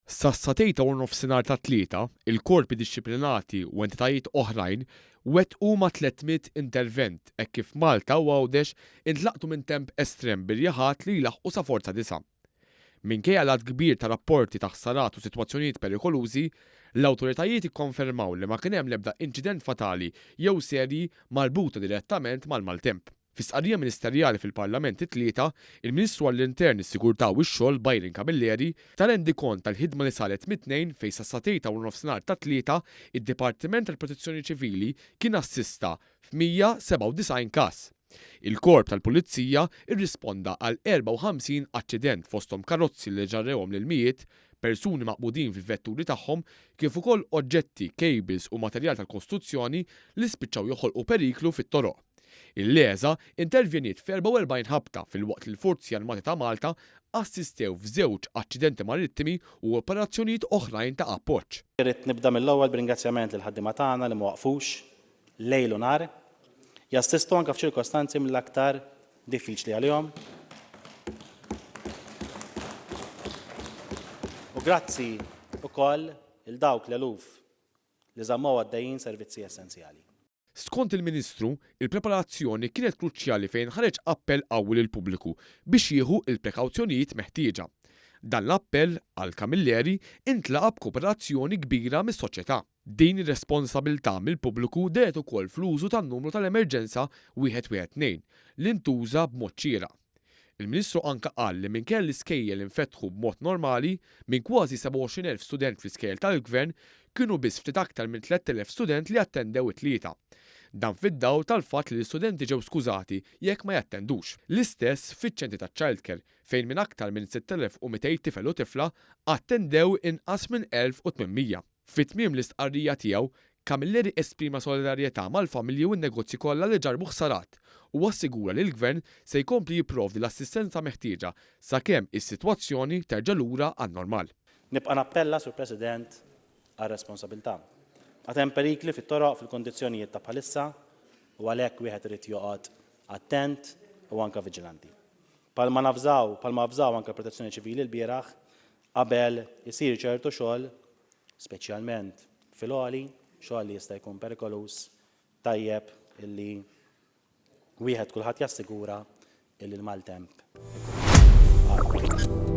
Sas-satejta u nofsinhar tat-Tlieta, il-korpi dixxiplinati u entitajiet oħrajn wettqu ma' tliet mitt intervent hekk kif Malta u Għawdex intlaqtu minn temp estrem bir-riħat li jlaħħqu sa forza disa'. Minkejja l-għadd kbir ta' rapporti ta' ħsarat u sitwazzjonijiet perikolużi, l-awtoritajiet ikkonfermaw li ma kien hemm l-ebda inċident fatali jew serji marbuta direttament mal-maltemp. Fi stqarrija ministerjali fil-Parlament it-Tlieta, il-Ministru għall-Intern, is-Sigurtà u x-Xogħol Byron Camilleri ta rendikont tal-ħidma li saret mit-Tnejn fejn sas-satejn ta' warnofsinhar tat-Tlieta id-Dipartiment tal-Protezzjoni Ċivili kien assista f'197 każ. Il-Korp tal-Pulizija rrisponda għal 54 aċċident fosthom karozzi li ġarrewhom l-ilmijiet, persuni maqbudin fil-vetturi tagħhom kif ukoll oġġetti, kejbils u materjal tal-kostruzzjoni li spiċċaw joħolqu periklu fit-toroq. Il-LESA intervjeniet f'44 ħabta filwaqt li l-Forzi Armati ta' Malta assistew f'żewġ aċċidenti marittimi u operazzjonijiet oħrajn ta' appoġġ. Irrid nibda mill-ewwel b'ringrazzjament lill-ħaddiema tagħna li ma waqfux lejl u nhar jassistu anke f'ċirkostanzi mill-aktar diffiċli għalihom u grazzi wkoll 'l dawk l-eluf li żammew għaddejjin servizzi essenzjali. Skont il-Ministru, il-preparazzjoni kienet kruċjali fejn ħareġ appell qawwi lill-pubbliku biex jieħu l-prekawzjonijiet meħtieġa. Dan l-appell, qal Camilleri, intlaqa' b'kooperazzjoni kbira mis-soċjetà. Din ir-responsabilità mill-pubbliku dehret ukoll fl-użu tan-numru tal-emerġenza 112, li ntuża b'mod xieraq. Il-Ministru anke qal li minkejja li l-iskejjel infetħu b'mod normali, minn kważi 27 elf student fl-iskejjel tal-Gvern, kienu biss ftit aktar minn 3 elef student li attendew it-Tlieta. Dan fid-dawl tal-fatt li l-istudenti ġew skużati jekk ma jattendux. L-istess fiċ-ċentri taċ-childcare, fejn minn aktar minn 6,200 tifel u tifla, attendew inqas minn 1,800. Fi tmiem l-istqarrija tiegħu, Camilleri esprima solidarjetà mal-familji u n-negozji kollha li ġarrbu ħsarat u assigura li l-Gvern se jkompli jipprovdi l-assistenza meħtieġa sakemm is-sitwazzjoni terġa' lura għan-normal. Nibqa' nappella, Sur President, għal responsabilità. Għad hemm perikli fit-toroq fil-kundizzjonijiet ta' bħalissa u għalhekk wieħed irid joqgħod attent u anke viġilanti. Bħalma navżaw, bħalma avżaw anke l-Protezzjoni Ċivili l-bieraħ, Qabel isir ċertu xogħol, speċjalment fil-għoli, xogħol li jista' jkun perikoluż, tajjeb illi wieħed kulħadd jassigura illi l-maltemp għadda.